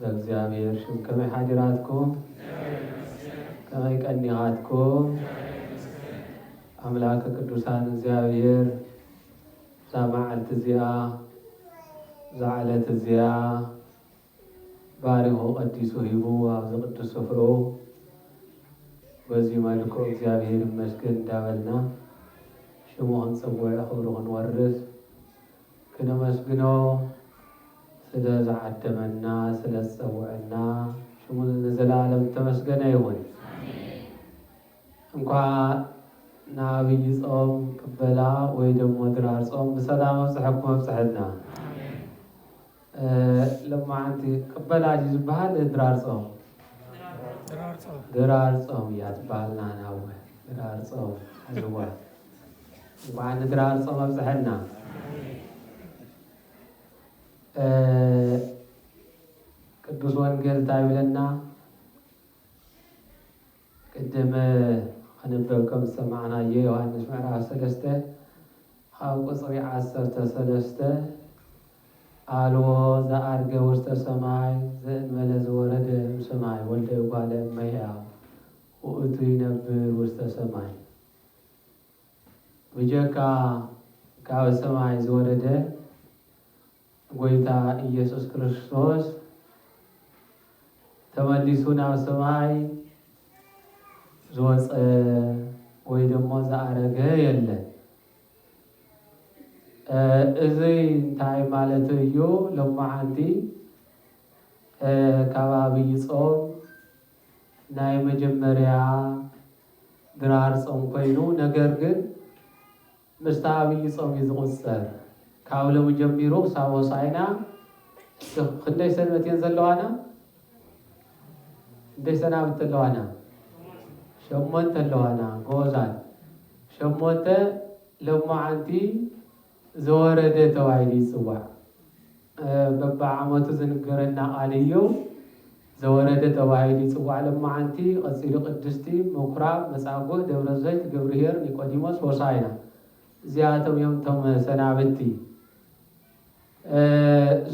ዘእግዚኣብሔር ሽም ከመይ ሓዲራትኩም ከመይ ቀኒኣትኩም ኣምላከ ቅዱሳን እግዚኣብሔር እዛ መዓልቲ እዚኣ እዛ ዕለት እዚኣ ባሪኹ ቀዲሱ ሂቡ ኣብዚ ቅዱስ ስፍርኡ በዚ መልክዑ እግዚኣብሔር ይመስገን እንዳበልና ሽሙ ክንፅውዕ ክብሩ ክንወርስ ክነመስግኖ ስለ ዝዓደመና ስለ ዝጸውዐና ሽሙ ንዘለኣለም ዝተመስገነ ይኹን። እንኳዕ ንኣብይ ጾም ቅበላ ወይ ደሞ ድራር ጾም ብሰላም ኣብጸሐኩም ኣብጸሐና። ሎማዓንቲ ቅበላ ድዩ ዝባሃል ድራር ጾም ድራር ጾም እያ ትባሃል ናህና እወ ድራር ጾም ኣዝዋ እንኳዓ ንድራር ጾም ኣብፀሐና ቅዱስ ወንጌል እንታይ ይብለና ቅድም ክንበብ ከም ዝሰማዕናዮ ዮሃንስ ምዕራፍ ሰለስተ ካብ ቁጽሪ ዓሰርተ ሰለስተ ኣልቦ ዘኣርገ ውስተ ሰማይ ዘእንበለ ዝወረደ እምሰማይ ወልደ እጓለ እመሕያው ውእቱ ይነብር ውስተ ሰማይ ብጀካ ካብ ሰማይ ዝወረደ ጎይታ ኢየሱስ ክርስቶስ ተመሊሱ ናብ ሰማይ ዝወፀ ወይ ደሞ ዝኣረገ የለን። እዚ እንታይ ማለት እዩ? ሎማዓንቲ ካብ ኣብይ ጾም ናይ መጀመርያ ድራር ጾም ኮይኑ ነገር ግን ምስቲ ኣብይ ጾም እዩ ዝቁጸር ካብ ሎሚ ጀሚሩ ክሳብ ሆሳኢና እስኪ ክንደይ ሰንበት እየን ዘለዋና ክንደይ ሰናብቲ ኣለዋና ሸሞንተ ኣለዋና ጎበዛት ሸሞንተ ሎማዓንቲ ዘወረደ ተባሂሉ ይጽዋዕ በብዓመቱ ዝንገረና ቃል እዩ። ዘወረደ ተባሂሉ ይጽዋዕ ሎምዓንቲ፣ ቐጺሉ ቅድስቲ፣ ምኩራብ፣ መጻጉእ፣ ደብረዘይት፣ ገብርሄር፣ ኒቆዲሞስ፣ ሆሳእና እዚኣቶም እዮም እቶም ሰናብቲ።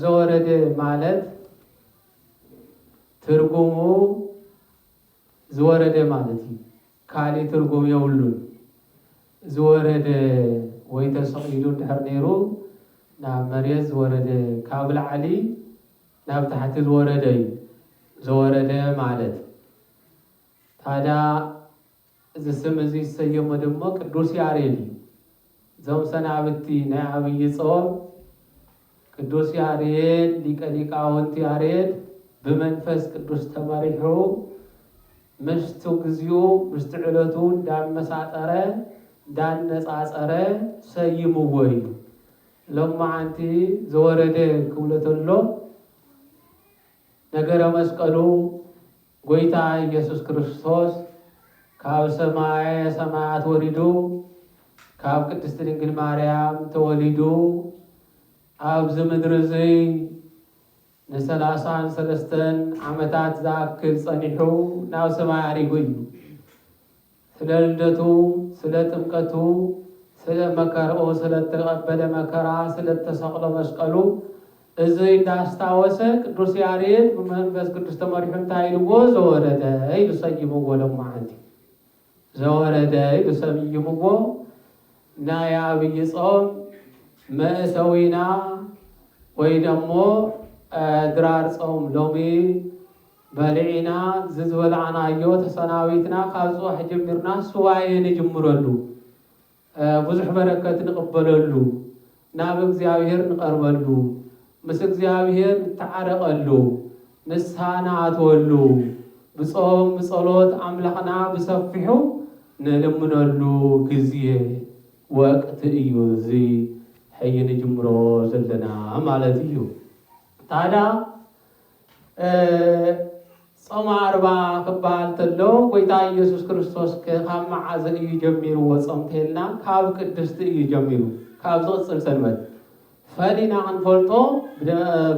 ዘወረደ ማለት ትርጉሙ ዝወረደ ማለት እዩ። ካሊእ ትርጉም የብሉን ዝወረደ ወይ ተሰቂሉ እንድሕር ነይሩ ናብ መሬት ዝወረደ ካብ ላዕሊ ናብ ታሕቲ ዝወረደ እዩ ዘወረደ ማለት ታዳ እዚ ስም እዚ ዝሰየሞ ደሞ ቅዱስ ያሬድ እዩ። እዞም ሰናብቲ ናይ ኣብይ ጾም ቅዱስ ያሬድ ሊቀ ሊቃውንት ያሬድ ብመንፈስ ቅዱስ ተመሪሑ ምስቲ ግዚኡ ምስቲ ዕለቱ እንዳመሳጠረ እንዳነጻጸረ ሰይምዎ እዩ። ሎማዓንቲ ዘወረደ ክብሎ ተሎ ነገረ መስቀሉ ጎይታ ኢየሱስ ክርስቶስ ካብ ሰማየ ሰማያት ወሪዱ ካብ ቅድስቲ ድንግል ማርያም ተወሊዱ ኣብዚ ምድሪ እዙይ ንሰላሳን ሰለስተን ዓመታት ዝኣክል ጸኒሑ ናብ ሰማይ ኣሪጉ እዩ። ስለ ልደቱ ስለ ጥምቀቱ ስለ መከርኡ ስለ እተቀበለ መከራ ስለ እተሰቅሎ መስቀሉ እዙይ እንዳስታወሰ ቅዱስ ያሬድ ብመንፈስ ቅዱስ ተመሪሑ እንታይ ኢልዎ ዘወረደ ኢሉ ሰይምዎ ሎማዓንቲ ዘወረደ ኢሉ ሰምይምዎ ናይ ኣብይ ጾም መእሰዊና ወይ ደሞ ድራር ጾም ሎሚ በሊዒና ዝዝበላዕናዮ ተሰናቢትና ካብ ፅባሕ ጀሚርና ሱባኤ ንጅምረሉ ብዙሕ በረከት ንቅበለሉ ናብ እግዚኣብሔር ንቀርበሉ ምስ እግዚኣብሔር ንተዓረቀሉ ንስሃ ንኣትወሉ ብፆም ብፀሎት ኣምላክና ብሰፊሑ ንልምነሉ ግዜ ወቅቲ እዩ እዚ ሕይ ንጅምሮ ዘለና ማለት እዩ ታዳ ጾመ ኣርባ ክበሃል ተሎ ጎይታ ኢየሱስ ክርስቶስ ከ ካብ መዓዘ እዩ ጀሚርዎ ጾም ተልና ካብ ቅድስቲ እዩ ጀሚሩ ካብ ዝቕጽል ሰንበት ፈሊና ክንፈልጦ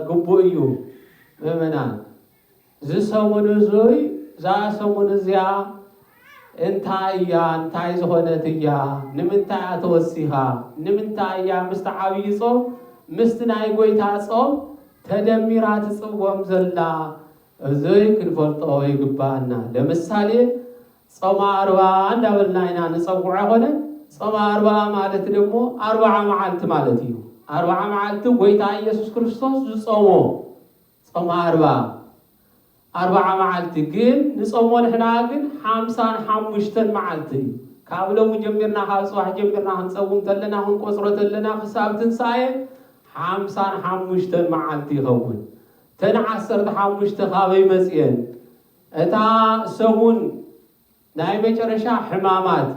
ግቡእ እዩ ምእመናን ዝሰሙን እዙይ እዛ ሰሙን እዚኣ እንታይ እያ እንታይ ዝኾነት እያ ንምንታይ እያ ተወሲኻ ንምንታይ እያ ምስቲ ዓብዪ ጾም ምስቲ ናይ ጎይታ ጾም ተደሚራ ትጽወም ዘላ እዙይ ክንፈልጦ ይግባኣና ለምሳሌ ጾመ ኣርብኣ እንዳበልና ኢና ንጸውዖ ኣይኮነን ጾመ ኣርብኣ ማለት ደሞ ኣርብዓ መዓልቲ ማለት እዩ ኣርብዓ መዓልቲ ጎይታ ኢየሱስ ክርስቶስ ዝጾሞ ጾመ ኣርባ ኣርባዓ መዓልቲ ግን ንጾሞ ንሕና ግን ሓምሳን ሓሙሽተን መዓልቲ እዩ ካብ ሎሚ ጀሚርና ካብ ጽባሕ ጀሚርና ክንጸውም ተለና ክንቆጽሮ ተለና ክሳብ ትንሳኤ ሓምሳን ሓሙሽተን መዓልቲ ይኸውን እተን ዓሰርተ ሓሙሽተ ካበይ መጽኤን እታ ሰሙን ናይ መጨረሻ ሕማማት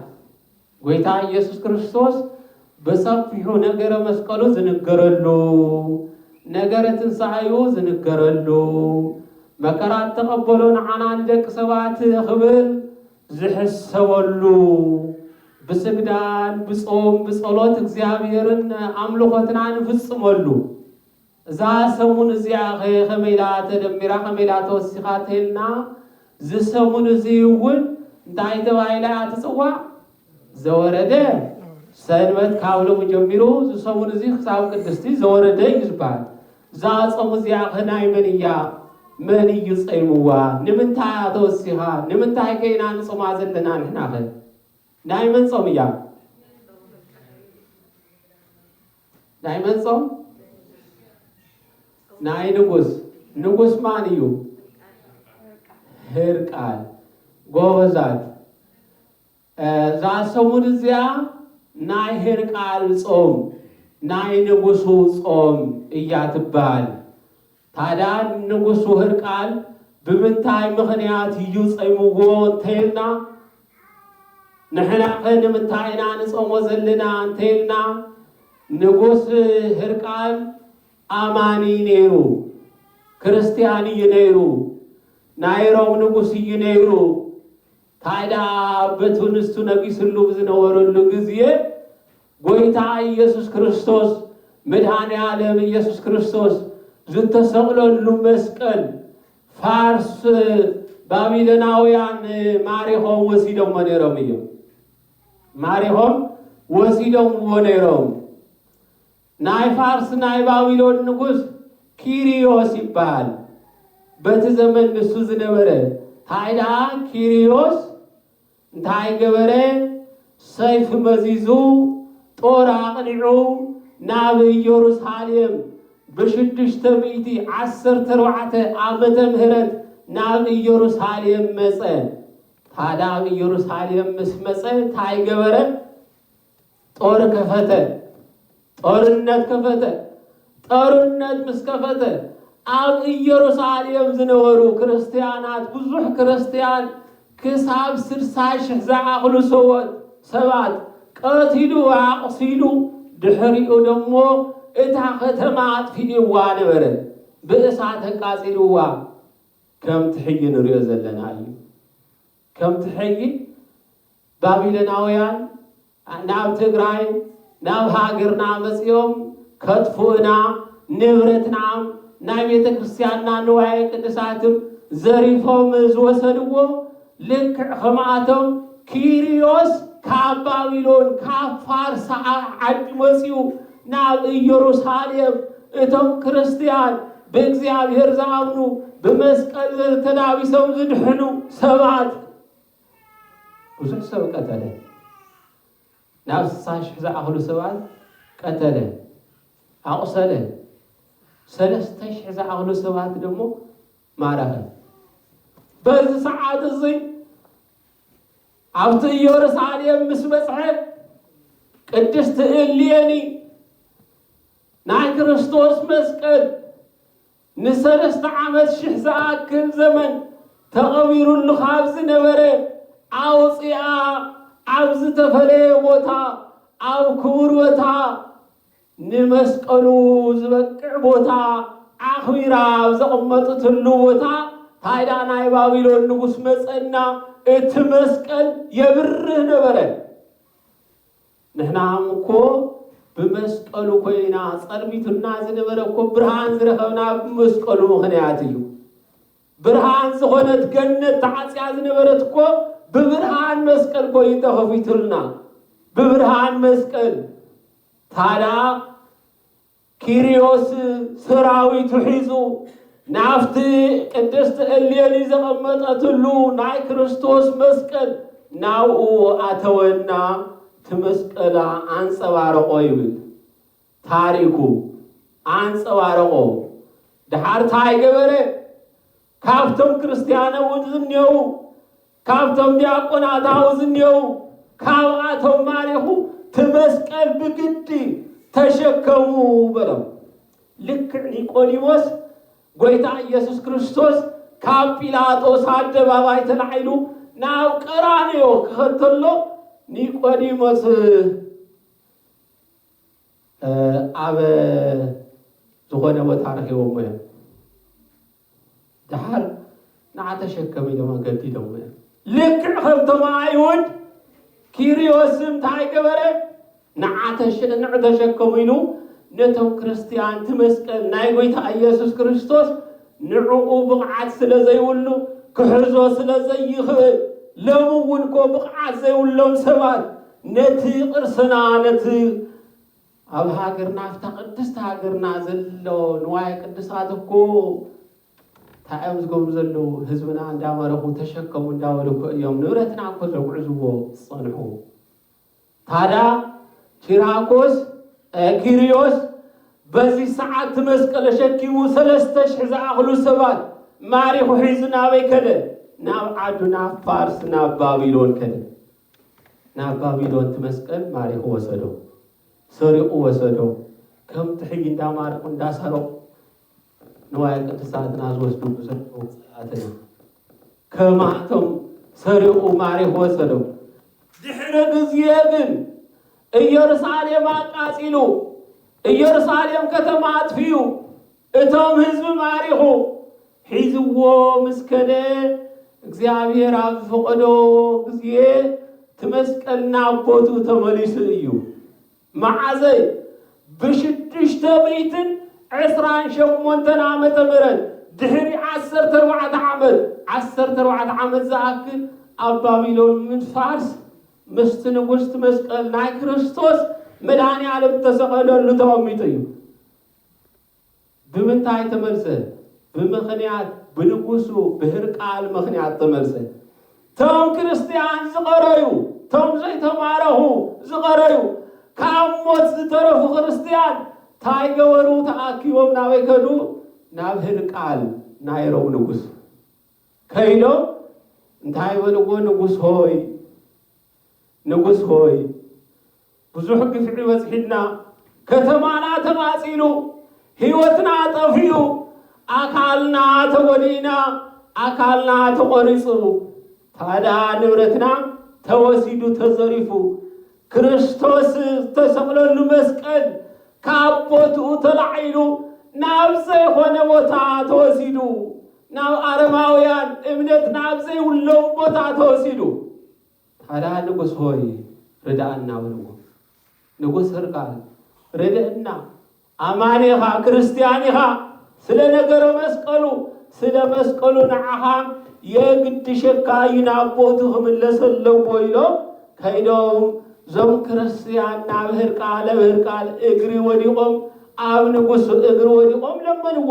ጎይታ ኢየሱስ ክርስቶስ ብሰፊሑ ነገረ መስቀሉ ዝንገረሉ፣ ነገረ ትንሣኤኡ ዝንገረሉ፣ መከራ እተቐበሎ ንዓና ንደቂ ሰባት ክብል ዝሕሰበሉ፣ ብስግዳን ብጾም ብጸሎት እግዚኣብሔርን ኣምልኾትና ንፍጽመሉ፣ እዛ ሰሙን እዚኣኸ ከመይ ኢላ ተደሚራ ከመይ ኢላ ተወሲኻ ተይልና እዚ ሰሙን እዚ እውን እንታይ ተባሂላ እያ ትፅዋዕ? ዘወረደ ሰንበት ካብ ሎሚ ጀሚሩ እዚ ሰሙን እዚ ክሳብ ቅድስቲ ዘወረደ እዩ ዝበሃል። እዛ ፆም እዚኣኸ ናይ መን እያ? መን እዩ ፀይምዋ? ንምንታይ እያ ተወሲኻ? ንምንታይ ከ ኢና ንፆማ ዘለና ንሕናኸ? ናይ መን ፆም እያ? ናይ መን ጾም? ናይ ንጉስ። ንጉስ ማን እዩ? ህርቃል። ጎበዛት። እዛ ሰሙን እዚኣ ናይ ህርቃል ጾም ናይ ንጉሱ ጾም እያ ትበሃል። ታድያ ንጉስ ወህርቃል ብምንታይ ምኽንያት እዩ ጸይምዎ እንተይልና ንሕናኸ ንምንታይ ኢና ንጾሞ ዘለና እንተይልና ንጉስ ህርቃል ኣማኒ ነይሩ ክርስትያን እዩ ነይሩ ናይ ሮም ንጉስ እዩ ነይሩ ታድያ በቱ ንሱ ነጊስሉ ብዝነበረሉ ግዜ ጎይታ ኢየሱስ ክርስቶስ መድኃኔ ዓለም ኢየሱስ ክርስቶስ ዝተሰቕለሉ መስቀል ፋርስ ባቢሎናውያን ማሪኾም ወሲዶሞ ነይሮም እዮም። ማሪኾም ወሲዶምዎ ነይሮም። ናይ ፋርስ ናይ ባቢሎን ንጉሥ ኪሪዮስ ይበሃል። በቲ ዘመን ንሱ ዝነበረ ሃይደኣ ኪሪዮስ እንታይ ገበረ? ሰይፊ መዚዙ፣ ጦር ኣቕኒዑ፣ ናብ ኢየሩሳሌም ብሽዱሽተ ሚእቲ ዓሰርተ ኣርባዕተ ዓመተ ምህረት ናብ ኢየሩሳሌም መጸ። ታዳ ኣብ ኢየሩሳሌም ምስ መጸ እንታይ ገበረ? ጦር ከፈተ ጦርነት ከፈተ ጦርነት ምስ ከፈተ ኣብ ኢየሩሳሌም ዝነበሩ ክርስትያናት ብዙሕ ክርስትያን ክሳብ ስድሳ ሽሕ ዝኣኽሉ ሰዎት ሰባት ቀቲሉ ኣቑሲሉ ድሕሪኡ ደሞ እታ ከተማ ኣጥፊእዋ ነበረ ብእሳት ኣቃጺልዋ ከምቲ ሕጂ ንሪኦ ዘለና እዩ ከምቲ ሕጊ ባቢሎናውያን ናብ ትግራይ ናብ ሃገርና መጺኦም ከጥፍኡና ንብረትናም ናይ ቤተ ክርስትያንና ንዋየ ቅድሳትም ዘሪፎም ዝወሰድዎ ልክዕ ከምኣቶም ኪርዮስ ካብ ባቢሎን ካብ ፋርስ ዓዲ መጺኡ ናብ ኢየሩሳሌም እቶም ክርስትያን ብእግዚኣብሔር ዝኣምኑ ብመስቀል ዘተላቢሶም ዝድሕኑ ሰባት ብዙሕ ሰብ ቀተለ ናብ ስሳ ሽሕ ዝኣኽሉ ሰባት ቀተለ ኣቑሰለ ሰለስተ ሽሕ ዝኣኽሉ ሰባት ደግሞ ማረኸ በዚ ሰዓት እዙይ ኣብቲ ኢዮርሳሌም ምስ በጽሐ ቅድስቲ እሌኒ ናይ ክርስቶስ መስቀል ንሰለስተ ዓመት ሽሕ ዝኣክል ዘመን ተቐቢሩሉ ካብ ዝነበረ ኣውፂኣ ኣብ ዝተፈለየ ቦታ ኣብ ክቡር ቦታ ንመስቀሉ ዝበቅዕ ቦታ ኣኽቢራ ኣብ ዘቕመጥትሉ ቦታ ታይ ደኣ ናይ ባቢሎን ንጉስ መጸና እቲ መስቀል የብርህ ነበረ። ንሕናም እኮ ብመስቀሉ ኮይና ጸልሚቱና ዝነበረ እኮ ብርሃን ዝረኸብና ብመስቀሉ ምኽንያት እዩ። ብርሃን ዝኾነት ገነት ተዓጽያ ዝነበረት እኮ ብብርሃን መስቀል ኮይኑ ተኸፊቱልና ብብርሃን መስቀል ታዳ ኪርዮስ ሰራዊቱ ሒዙ ናብቲ ቅድስት እሌኒ ዘቐመጠትሉ ናይ ክርስቶስ መስቀል ናብኡ ኣተወና እቲ መስቀላ ኣንጸባረቖ ይብል ታሪኩ። ኣንጸባረቖ። ደሓር ታይ ገበረ? ካብቶም ክርስትያን ኣውድ ዝኔዉ ካብቶም ዲያቆናት ኣው ዝኔዉ ካብኣቶም ማሪኹ ትመስቀል ብግዲ ተሸከሙ በሎም ልክዕ ኒቆዲሞስ ጎይታ ኢየሱስ ክርስቶስ ካብ ጲላጦስ ኣደባባይ ተላዒሉ ናብ ቀራንዮ ክኸተሎ ኒቆዲሞስ ኣብ ዝኾነ ቦታ ረኺቦሞ እዮም። ደሓር ንዓ ተሸከም ኢሎም ኣገዲዶሞ እዮም። ልክዕ ከምቶም ኣይሁድ ኪርዮስ እንታይ ገበረ? ንዓ ተሸንዕ ተሸከሙ ኢሉ ነቶም ክርስትያን እቲ መስቀል ናይ ጎይታ ኢየሱስ ክርስቶስ ንዕኡ ብቕዓት ስለ ዘይብሉ ክሕዞ ስለ ዘይኽእል ሎሚ እውን እኮ ብቕዓት ዘይብሎም ሰባት ነቲ ቅርስና ነቲ ኣብ ሃገርና ኣብታ ቅድስቲ ሃገርና ዘሎ ንዋየ ቅድሳት እኮ እንታይ እዮም ዝገብሩ ዘለዉ ህዝብና እንዳመረኹ ተሸከሙ እንዳበሉ እኮ እዮም ንብረትና እኮ ዘጉዕዝዎ ዝፀንሑ ታዳ ኪራኮስ ኪርዮስ በዚ ሰዓት እቲ መስቀል ተሸኪሙ ሰለስተ ሽሕ ዝኣኽሉ ሰባት ማሪኹ ሒዙ ናበይ ከደ ናብ ዓዱ ናብ ፋርስ ናብ ባቢሎን ከደ ናብ ባቢሎን እቲ መስቀል ማሪኹ ወሰዶ። ሰሪቑ ወሰዶ። ከምቲ ሕጂ እንዳማረኹ እንዳሰረቑ ንዋየ ቅድሳትና ዝወስድሉ ዘለዉ ጸላእትና ከማቶም ሰሪቑ ማሪኹ ወሰዶ። ድሕሪ ግዜ ግን ኢየሩሳሌም ኣቃጺሉ ኢየሩሳሌም ከተማ ኣጥፊኡ እቶም ህዝቢ ማሪኹ ሒዝዎ ምስ ከደ እግዚኣብሔር ኣብ ዝፈቐዶ ግዜ እቲ መስቀል ናብ ቦትኡ ተመሊሱ እዩ። መዓዘ እዩ? ብሽዱሽተ ሚእትን ዕስራን ሸሞንተን ዓመተ ምህረት ድሕሪ ዓሰርተ ኣርባዕተ ዓመት ዓሰርተ ኣርባዕተ ዓመት ዝኣክል ኣብ ባቢሎን ምድፋርስ ምስቲ ንጉሥቲ መስቀል ናይ ክርስቶስ መድኃኔ ዓለም እተሰቐለሉ ተቐሚጡ እዩ። ብምንታይ ተመልሰ? ብምኽንያት ብንጉሱ ብህርቃል ምኽንያት ተመልሰ። ቶም ክርስትያን ዝቐረዩ፣ ቶም ዘይተማረኹ ዝቐረዩ፣ ካብ ሞት ዝተረፉ ክርስትያን ታይ ገበሩ ተኣኪቦም ናበይ ከዱ? ናብ ህርቃል ናይ ሮም ንጉስ ከይዶም እንታይ በልዎ ንጉስ ሆይ ንጉስ ሆይ ብዙሕ ግፍዒ በጽሒና ከተማና ተቃጺሉ ሂወትና ጠፊኡ ኣካልና ተጎዲእና ኣካልና ተቆሪጹ ታዳ ንብረትና ተወሲዱ ተዘሪፉ ክርስቶስ ዝተሰቅለሉ መስቀል ካብ ቦትኡ ተላዒሉ ናብ ዘይኮነ ቦታ ተወሲዱ ናብ ኣረማውያን እምነት ናብ ዘይብሎም ቦታ ተወሲዱ። ታድያ ንጉሥ ሆይ ርድኣና በልዎ። ንጉሥ ህርቃል ርድእና ኣማኒ ኢኻ ክርስትያን ኢኻ ስለ ነገረ መስቀሉ ስለ መስቀሉ ንዓኻ የግድሸካ እዩ ናብ ቦቱ ክምለስ ኣለዎ ኢሎም ከይዶም ዞም ክርስትያን ናብ ህርቃል ኣብ ህርቃል እግሪ ወዲቖም ኣብ ንጉሱ እግሪ ወዲቖም ለመንዎ።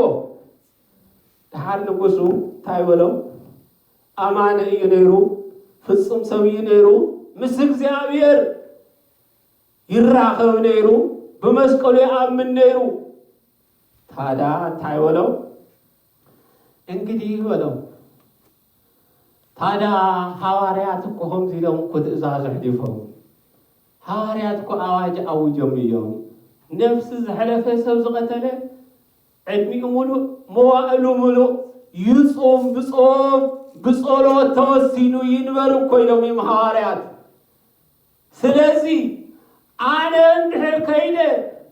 ደሓር ንጉሱ እንታይ በሎ? ኣማኒ እዩ ነይሩ፣ ፍጹም ሰብ እዩ ነይሩ፣ ምስ እግዚኣብሔር ይራኸብ ነይሩ፣ ብመስቀሉ ይኣምን ነይሩ። ታዳ እንታይ በሎ? እንግዲህ በሎ ታዳ ሃዋርያት እኮ ከምዚ ኢሎም እኮ ትእዛዝ ኣሕሊፎም ሃዋርያት እኮ ኣዋጅ ኣውጆም እዮም። ነፍሲ ዝሐለፈ ሰብ ዝቐተለ ዕድሚኡ ምሉእ መዋእሉ ምሉእ ይጹም ብጾም ብጸሎት ተወሲኑ ይንበር እኮ ኢሎም እዮም ሃዋርያት ስለዚ ኣነ እንድሕር ከይደ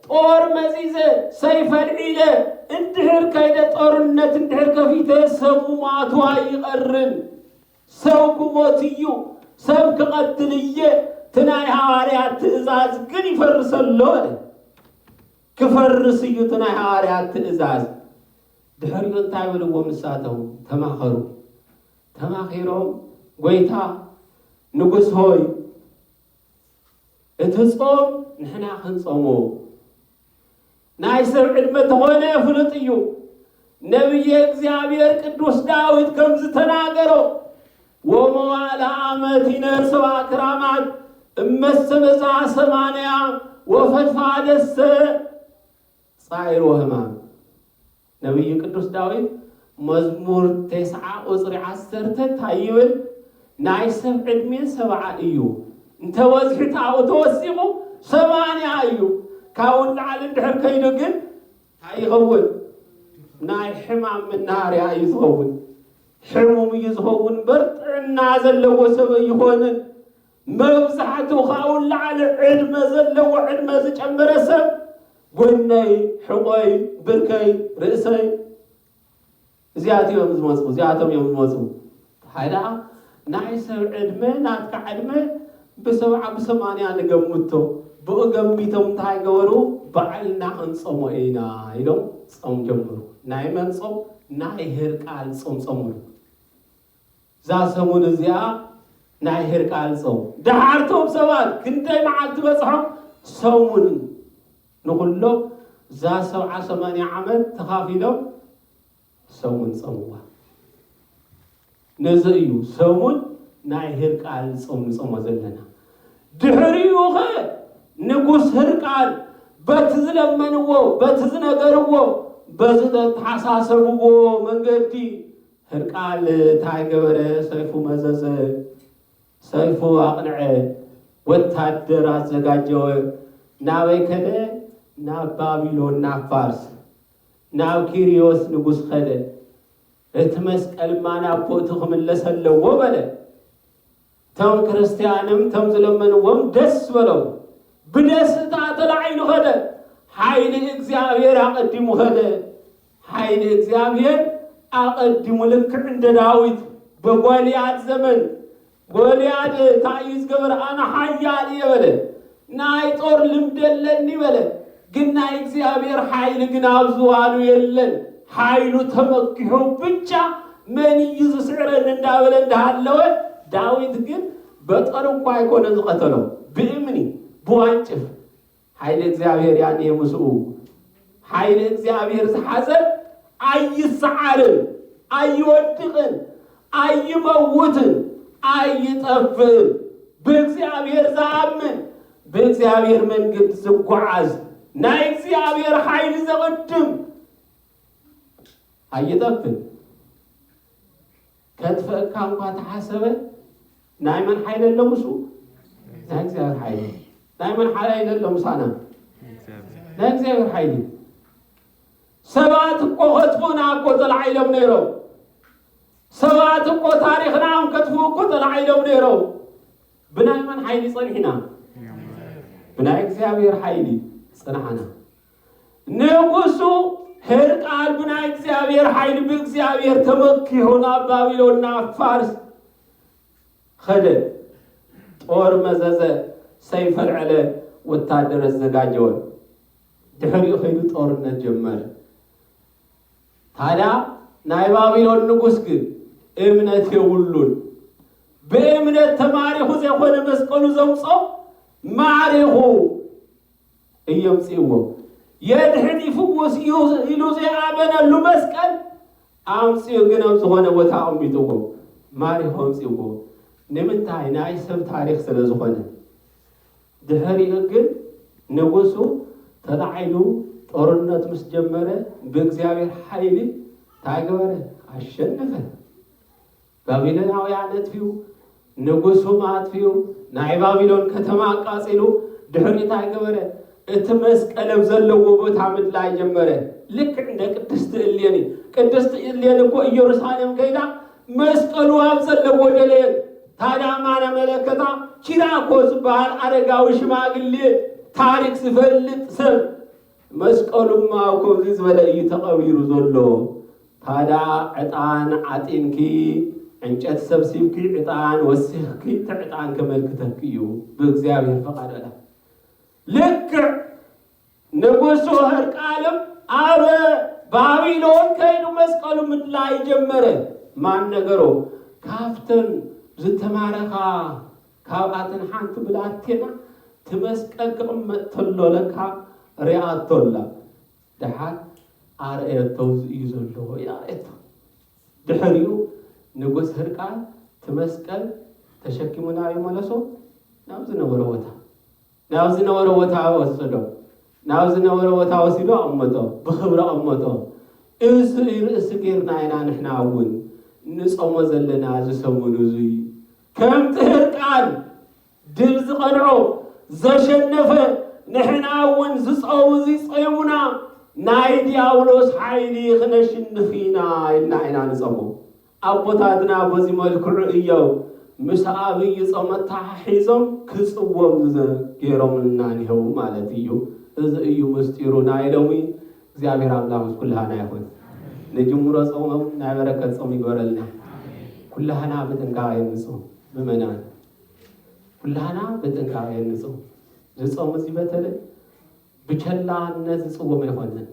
ጦር መዚዘ ሰይፈ ኣልዒለ እንድሕር ከይደ ጦርነት እንድሕር ከፊተ ሰብ ሙማቱ ኣይቐርን ሰው ክሞት እዩ ሰብ ክቐትል እየ እቲ ናይ ሃዋርያት ትእዛዝ ግን ይፈርሰሎ ኣለ ክፈርስ እዩ እቲ ናይ ሃዋርያት ትእዛዝ። ድሕሪኡ እንታይ በልዎም ንሳቶም? ተማኸሩ። ተማኺሮም ጐይታ ንጉሥ ሆይ እቲ ጾም ንሕና ክንጾሞ ናይ ሰብ ዕድመ ተኾነ ፍሉጥ እዩ ነቢየ እግዚኣብሔር ቅዱስ ዳዊት ከም ዝተናገሮ ወመዋእለ ዓመት ይነስባ ክራማት እመሰበጽሐ ሰማንያ ወፈድፋደሰ ጻዕር ወህማም ነቢዩ ቅዱስ ዳዊት መዝሙር ቴስዓ ቁፅሪ ዓሰርተ እንታይ ይብል? ናይ ሰብ ዕድሜ ሰብዓ እዩ እንተበዝሑ ተኣኡ ተወሲኹ ሰማንያ እዩ ካብኡ ንላዕሊ እንድሕር ከይዱ ግን ታይ ይኸውን ናይ ሕማም መናሃርያ እዩ ዝኸውን ሕሙም እዩ ዝኸውን እምበር ጥዕና ዘለዎ ሰብ ኣይኾንን መብዛሕትኡ ካብኡ ንላዕሊ ዕድመ ዘለዎ ዕድመ ዝጨመረ ሰብ ጎነይ ሕቖይ ብርከይ ርእሰይ እዚኣት እዮም ዝመፁ እዚኣቶም እዮም ዝመፁ ሃይ ደኣ ናይ ሰብ ዕድመ ናትካ ዕድመ ብሰብዓ ብሰማንያ ንገምቶ ብኡ ገሚቶም እንታይ ገበሩ ባዕልና ክንፆሞ ኢና ኢሎም ፆም ጀመሩ ናይ መን ፆም ናይ ህርቃል ፆም ፆምሉ እዛ ሰሙን እዚኣ ናይ ህርቃል ፆም ደሓርቶም ሰባት ክንደይ መዓልቲ በፅሖም ሰሙን ንኹሎም እዛ ሰብዓ ሰማንያ ዓመት ተኻፊሎም ሰሙን ጸምዋ። ነዚ እዩ ሰሙን ናይ ህርቃል ጾም ንጾሞ ዘለና። ድሕሪኡኸ ንጉስ ህርቃል በቲ ዝለመንዎ፣ በቲ ዝነገርዎ፣ በዚ ዘተሓሳሰብዎ መንገዲ ህርቃል እንታይ ገበረ? ሰይፉ መዘዘ። ሰልፉ ኣቕንዐ፣ ወታደር ኣዘጋጀወ፣ ናበይ ከደ? ናብ ባቢሎን፣ ናብ ፋርስ፣ ናብ ኪርዮስ ንጉስ ኸደ። እቲ መስቀልማ ናብ ቦትኡ ክምለስ ኣለዎ በለ። እቶም ክርስትያንም እቶም ዝለመንዎም ደስ በሎም፣ ብደስታ ተላዒሉ ኸደ። ሓይሊ እግዚኣብሔር ኣቐዲሙ ኸደ፣ ኃይል እግዚኣብሔር ኣቐዲሙ ልክዕ እንደ ዳዊት በጎልያድ ዘመን ጎልያድ እንታይ እዩ ዝገበረ? ኣነ ሓያል እየ በለ። ናይ ጦር ልምድ ኣለኒ በለ። ግን ናይ እግዚኣብሔር ሓይሊ ግን ኣብ ዝባኑ የለን። ሓይሉ ተመኪሑ ብቻ መን እዩ ዝስዕረኒ እንዳበለ እንዳሃለወ ዳዊት ግን በጦር እኳ ኣይኮነ ዝቐተሎ ብእምኒ ብዋንጭፍ ሓይሊ እግዚኣብሔር እያ እንሄ ምስኡ። ሓይሊ እግዚኣብሔር ዝሓዘ ኣይሰዓርን፣ ኣይወድቕን፣ ኣይመውትን፣ ኣይጠፍእን። ብእግዚኣብሔር ዝኣምን ብእግዚኣብሔር መንገድ ዝጓዓዝ ናይ እግዚኣብሔር ሓይሊ ዘቕድም ኣይጠፍን። ከጥፍእካ እንኳ ተሓሰበ ናይ መን ሓይሊ ኣሎ ምስኡ ናይ እግዚኣብሔር ሓይሊ ናይ መን ሓይሊ ኣሎ ምሳና ናይ እግዚኣብሔር ሓይሊ ሰባት እኮ ከጥፉና እኮ ተላዒሎም ነይሮም ሰባት እኮ ታሪኽናም ከጥፉ እኮ ተላዒሎም ነይሮም ብናይ መን ሓይሊ ፀኒሕና ብናይ እግዚኣብሔር ሓይሊ ፅንሓና ንጉሱ ሕርቃል ብናይ እግዚኣብሔር ሓይሊ ብእግዚኣብሔር ተመኪሑ ናብ ባቢሎን ናብ ፋርስ ኸደ ጦር መዘዘ ሰይፍ ኣልዐለ ወታደር ኣዘጋጀወ ድሕሪኡ ከይዱ ጦርነት ጀመረ ታዲያ ናይ ባቢሎን ንጉስ ግን እምነት የብሉን ብእምነት ተማሪኹ ዘይኮነ መስቀሉ ዘምጾ ማዕሪኹ እይ ኣምጺእዎ። የድሕን ይፍውስ እዩ ኢሉ ዘይኣመነሉ መስቀል ኣምጺኡ ግን ኣብ ዝኾነ ቦታ ኣቕሚጥዎ ማሪኹ ኣምጺእዎ። ንምንታይ? ናይ ሰብ ታሪኽ ስለ ዝኾነ። ድሕሪኡ ግን ንጉሱ ተላዒሉ ጦርነት ምስ ጀመረ ብእግዚኣብሔር ሓይሊ እንታይ ገበረ? ኣሸነፈ። ባቢሎናውያን ኣጥፊኡ፣ ንጉሱም ኣጥፊኡ፣ ናይ ባቢሎን ከተማ ኣቃጺሉ፣ ድሕሪኡ እንታይ ገበረ? እቲ መስቀል ኣብ ዘለዎ ቦታ ምድላይ ጀመረ። ልክዕ እንደ ቅድስቲ እሌኒ። ቅድስቲ እሌኒ እኮ ኢየሩሳሌም ከይዳ መስቀሉ ኣብ ዘለዎ ደለየት። ታዲያ ማን ኣመለከታ? ቺራኮ ዝበሃል ኣረጋዊ ሽማግሌ ታሪክ ዝፈልጥ ሰብ መስቀሉ እሞ ኣብ ከምዚ ዝበለ እዩ ተቐቢሩ ዘሎ። ታዳ ዕጣን ዓጢንኪ፣ ዕንጨቲ ሰብሲብኪ ዕጣን ወሲኽኪ እቲ ዕጣን ከመልክተኪ እዩ ብእግዚኣብሔር ፈቓድ በላ። ልክዕ ንጉሱ ህርቃልም ኣብ ባቢሎን ከይዱ መስቀሉ ምድላይ ጀመረ። ማን ነገሮ ካብተን ዝተማረኻ ካብኣተን ሓንቲ ብላቴና እቲ መስቀል ክቕመጥ ተሎ ለካ ርኣቶ ኣላ ድሓር ኣርኣየቶ እዚ እዩ ዘሎ ኢላ ኣርኣየቶ ድሕሪኡ ንጉስ ህርቃል እቲ መስቀል ተሸኪሙ ናበይ መለሶ ናብ ዝነበሮ ቦታ ናብ ዝነበሮ ቦታ ወሰዶ ናብ ዝነበሮ ቦታ ወሲዶ ኣቐመጦ ብኽብሪ ኣቐመጦ እዚ ርእሲ ጌርና ኢና ንሕና እውን ንጾሞ ዘለና እዚ ሰሙን እዙይ ከምቲ ህርቃን ድል ዝቀንዖ ዘሸነፈ ንሕና እውን ዝጸው እዚ ጸዩሙና ናይ ዲያብሎስ ሓይሊ ክነሽንፍ ኢና ኢልና ኢና ንጸሞ። ኣቦታትና በዚ መልክዑ እዮም ምስ ኣብይ ጾም ኣተሓሒዞም ክጽወም ገይሮምልና ኔህው ማለት እዩ። እዚ እዩ ምስጢሩ ናይ ሎሚ እግዚኣብሔር ኣምላክ ምስ ኩላህና ይኩን ንጅምሮ ፆም እውን ናይ በረከት ፆም ይግበረልና ኩላህና ብጥንቃቀ ንፁም ምእመናን ኩላህና ብጥንቃቀ ንፁም ዝፆም እዚ በተለይ ብቸላነት ዝፅወም ኣይኮነን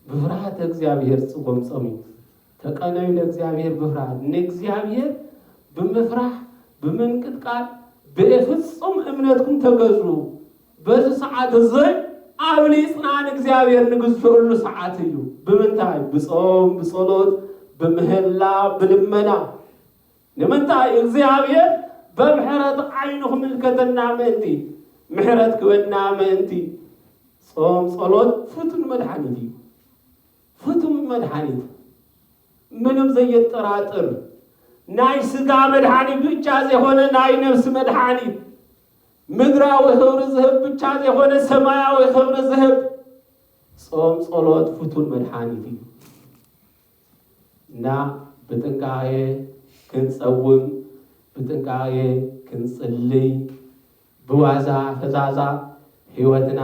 ብፍርሃተ እግዚኣብሔር ዝፅወም ፆም እዩ ተቀነዩ ለእግዚኣብሔር ብፍርሃት፣ ንእግዚኣብሔር ብምፍራሕ ብምንቅጥቃጥ ብፍጹም እምነትኩም ተገዙ፣ በዚ ሰዓት እዙይ ኣብሊጽና ንእግዚኣብሔር ንግዝኡሉ ሰዓት እዩ፣ ብምንታይ ብጾም ብጸሎት ብምህላ ብልመና፣ ንምንታይ እግዚኣብሔር በምሕረት ዓይኑ ክምልከተና ምእንቲ፣ ምሕረት ክበና ምእንቲ፣ ጾም ጸሎት ፍቱን መድሓኒት እዩ፣ ፍቱው መድሓኒት ምንም ዘየጠራጥር ናይ ስጋ መድሓኒት ብቻ ዘይኮነ ናይ ነብሲ መድሓኒት ምድራዊ ክብሪ ዝህብ ብቻ ዘይኮነ ሰማያዊ ክብሪ ዝህብ ጾም ጸሎት ፍቱን መድሓኒት እዩ እና ብጥንቃቄ ክንጸውም ብጥንቃቄ ክንጽልይ ብዋዛ ፈዛዛ ህይወትና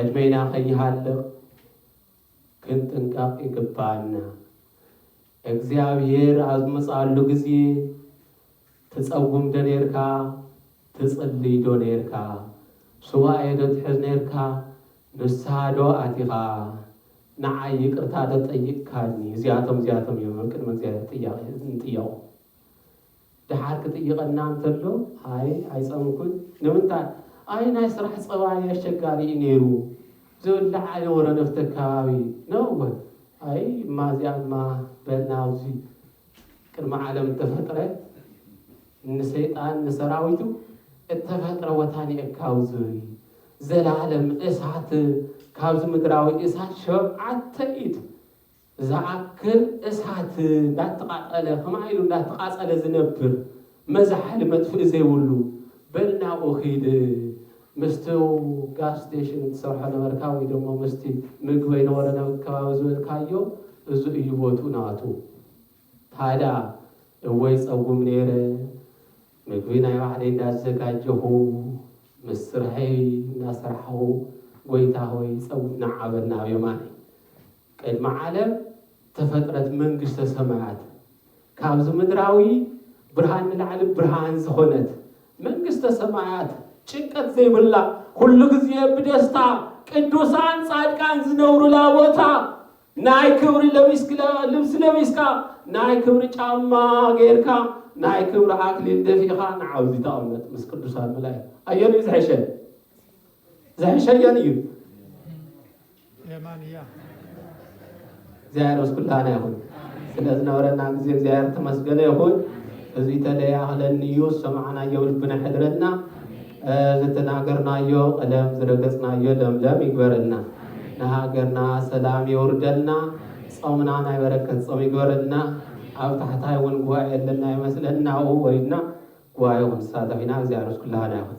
ዕድሜና ከይሃልቅ ክንጥንቀቅ ይግበኣና እግዚኣብሔር ኣብ ዝመጽኣሉ ግዜ ትጸጉም ዶ ኔርካ ትጽልይ ዶ ኔርካ ሱባኤ ዶ ትሕዝ ኔርካ ንስሃ ዶ ኣቲኻ ንዓይ ይቅርታ ዶ ጠይቅካኒ እዚኣቶም እዚኣቶም እዮም ኣብ ቅድሚ እግዚኣብሔር ጥያቄ ንጥየቆ ደሓር ክጥይቐና እንተሎ፣ ኣይ ኣይጸምኩን፣ ንምንታይ? ኣይ ናይ ስራሕ ጸባይ ኣሸጋሪ እዩ ነይሩ፣ ዝብላዕ ኣይነበሮን ኣብቲ ኣከባቢ፣ ነወ፣ ኣይ እማ እዚኣ እማ በል ናብዚ ቅድሚ ዓለም እተፈጥረ ንሰይጣን ንሰራዊቱ እተፈጥረ ቦታ ኒኤካው ዝብል ዘላለም እሳት ካብዚ ምድራዊ እሳት ሸውዓተ ኢድ ዝኣክል እሳት እንዳተቓጸለ ከማይ ኢሉ እንዳተቓጸለ ዝነብር መዝሓሊ መጥፍኢ ዘይብሉ በል ናብኡ ኪድ ምስቲ ጋስ ስቴሽን ትሰርሖ ነበርካ ወይ ደሞ ምስቲ ምግበይ ነበሮ ናብ ከባቢ ዝበልካዮ እዚ እዩ ቦትኡ ናቱ ታዳ እወ ይጸጉም ነይረ ምግቢ ናይ ባዕለይ እንዳዘጋጀኹ ምስ ስርሐይ እንዳሰርሓኹ ጎይታ ሆይ ይጸጉም ንዓ በል ናብ የማነይ ቅድሚ ዓለም ተፈጥረት መንግስተ ሰማያት ካብዚ ምድራዊ ብርሃን ንላዕሊ ብርሃን ዝኾነት መንግስተ ሰማያት ጭንቀት ዘይብላ ኩሉ ግዜ ብደስታ ቅዱሳን ጻድቃን ዝነብሩላ ቦታ ናይ ክብሪ ልብሲ ለቢስካ ናይ ክብሪ ጫማ ጌርካ ናይ ክብሪ ኣክሊል ደፊእኻ ንዓውዚ ተቐመጥ ምስ ቅዱሳን መላእክት ኣየንዩ ዝሕሸ ዝሕሸ ኣየንዩ የማን እያ። እግዚኣብሔር ምስ ኩላህና ይኹን። ስለ ዝነበረና ግዜ እግዚኣብሔር ተመስገነ ይኹን። እዚ ተለይ ኣኽለኒ እዩ ዝሰማዕናዮ ልብና ይሕድረልና። ዝተናገርናዮ ቀለም ዝረገጽናዮ ለምለም ይግበረልና። ንሃገርና ሰላም የውርደልና። ጾምና ናይ በረከት ጾም ይግበረልና። ኣብ ታሕታይ እውን ጉባኤ ኣለና ይመስለና ኣብኡ ወሪድና ጉባኤ ክንሳተፍ ኢና። እግዚኣብሔር ምስ ኩላህና ይኹን።